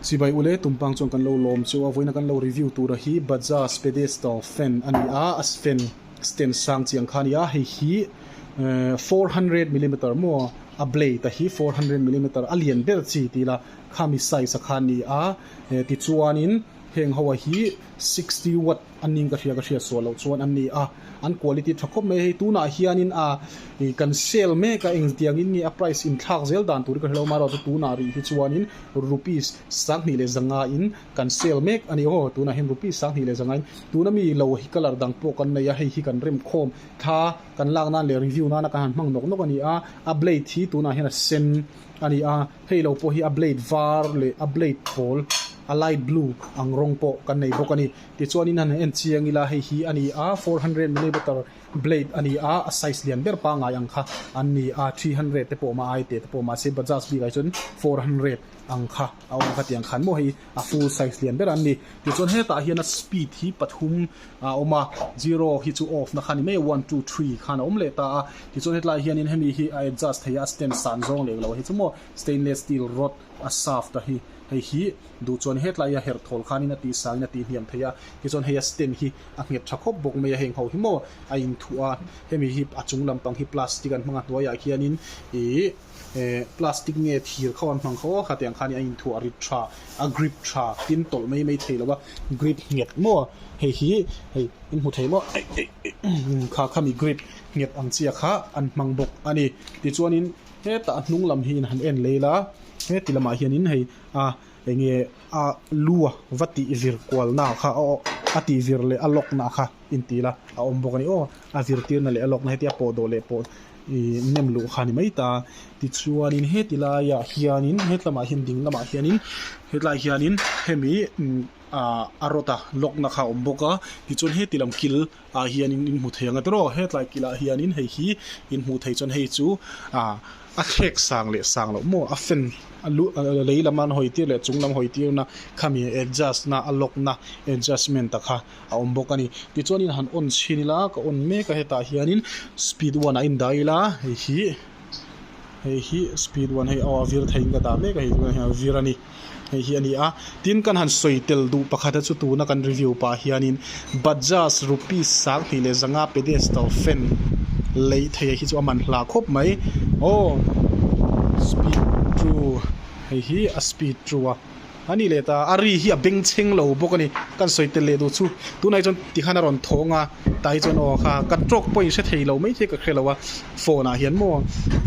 Chibai ule, tumpang chuan kan lo lawm chu a vawiin a kan lo review tura hi Bajaj pedestal fan a ni a, a fan stand sang chiang kha a ni a, hei hi four hundred millimeter maw a blade a hi four hundred millimeter a lian ber chi ti ila khami size a kha a ni a tichuanin heng ho a hi sixty watt An ning ka hria ka hriat suah loh chuan an ni a, an quality tha khawp mai. Hei tunah hianin a ih kan sell mek a, eng tiangin nge a price inthlak zel dan tur hi ka hre lo a, mahro chu tunah rih hi chuanin rupees sanghnih leh zangain kan sell mek a ni aw, tunah hian rupees sanghnih leh zangain tuna mi lo hi colour dang pawh kan nei a, hei hi kan rem khawm thla kan lak nan leh review nana kan han hmang nawk nawk a ni a, a blade hi tunah hian a sen a ni a. Hei lo pawh hi a blade var leh a blade pawl a light blue ang rawng pawh kan nei bawk a ni. Tichuan in a han en chiang ila hei hi a ni a four hundred millimeter blade a ni a, a size lian ber pangai ang kha an ni a, three hundred te pawh mah a ai teh te pawh mahse Bajaj bikah hi chuan four hundred ang kha a awm kha tiang khan maw hei a full size lian ber an ni. Tichuan hetah hian a speed hi pathum. a awm a, zero hi chu off na kha ni mai a, one two three khan a awm leh ta a, tichuan hetlai hianin hemi hi a adjust theih a, a stand san zawng leh lo hi chu maw stainless steel rod a shaft a hi hei hi duh chuan hetlai a herh thawl khanin a tihsangin a tihniam theih a, tichuan heia stand hi a nghet tha khawp bawk mai a, heng ho hi maw a inthuah a, hemi hi a chung lampang hi plastic an hmang a hnuaiah hianin ihh. Ehh plastic nge thir kho an hmang kho aw hetiang khan a inthu a rit tha a grip tha tin tawlh mai mai thei lova grip nghet maw hei hi hei in hmu thei maw eih eih eih kha khami grip nghet ang chiah kha an hmang bawk a ni tichuanin hetah a hnung lam hi in han en lei la heti lamah hianin hei a enge a lu a va tih vir kual na kha aw a tih vir leh a lock na kha. inti ila a awm bawk a ni aw a zirtirna leh a lawkna hetia pawh dawh leh pawh ihh nem luh kha a ni mai ta tichuanin heti laia hianin he tlamah hian ding lamah hianin hetlai hianin hemi ah a rod a lock na kha a awm bawk a tichuan heti lam kil ah hianin in hmu thei ang aterw hetlai kil ah hianin hei hi in hmuh theih chuan hei chu ah a thlek sang leh sang loh maw a fan a lu a lei lama an hawi tir leh a chung lam hawi tirna khami adjust na a lock na adjustment a kha. a awm bawk a ni tichuanin han on chhin ila ka on mek a hetah hianin speed one a indah ila hei hi hei hi speed one hei aw a vir thei in ka dah mek a hei tunah hian a vir a ni hei hi a ni a tin kan han sawi tel duh pakhat a chu tuna kan review pah hianin bajaj rupees sang hnih leh zanga pedestal fan lei thei a hi chu a man hla khawp mai aw speed two hei hi a speed two a. A nih leh ta, a ri hi a beng cheng lo bawk a ni. Kan sawi tel leh duh chu, tunah hi chuan ti khan a rawn thawng a, tah hi chuan aw kha kan trawk pawhin hre thei lo mai te ka hre lo a, phone ah hian maw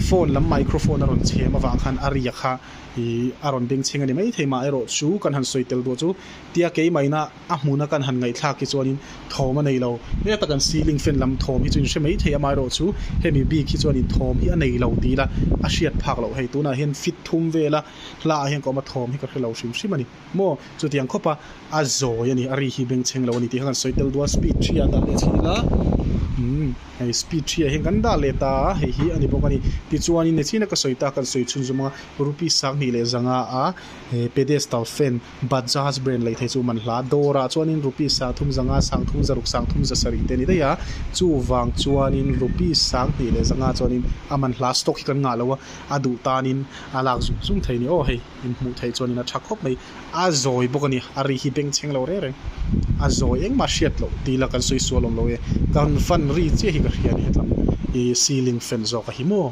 phone lam microphone a rawn chhem avang khan a ria kha ih a rawn beng cheng a ni mai thei mah erawh chu kan han sawi tel duh chu tia kei mahina a hmuna kan han ngaihthlak hi chuanin thawm a nei lo. Heta kan ceiling fan lam thawm hi chu inhre mai thei a mah erawh chu hemi bik hi chuan in thawm hi a nei lo ti ila a hriat phak loh hei tunah hian fit thum vel a, Hla ah hian ka awm a thawm hi ka hre lo hrim hrim a ni. Maw? Chutiang khawp a, a zawi a ni, a ri hi beng chheng lo a ni tih kha kan sawi tel dual. Speed three ah dah leh chhin ila, umm, hei speed three ah hian kan dah leh ta a, hei hi a ni bawk a ni. Tichuan in nihchin a ka sawi ta, kan sawi chhun zu mang a, Rupees sang hnih leh zanga a he pedestal fan, Bajaj brand lei thei chu man hla. Dawrah chuanin rupees sang thum zanga, sang thum zaruk, sang thum zasarih te ni daih a, chuvang chuanin rupees sang hnih leh zanga chuanin a man hla. Stock hi kan ngah lo a, a duh tanin a lak zung zung thei a ni. Aw hei in hmuh theih chuanin a tha khawp mai. A zawi bawk a ni. A ri hi beng chheng lo reng reng. A zawi engmah a hriat loh tih ila kan sawi sual awm lo e. Kan fan ri chiah hi ka hria a ni hetlam. Ih ceiling fan zawk a hi maw?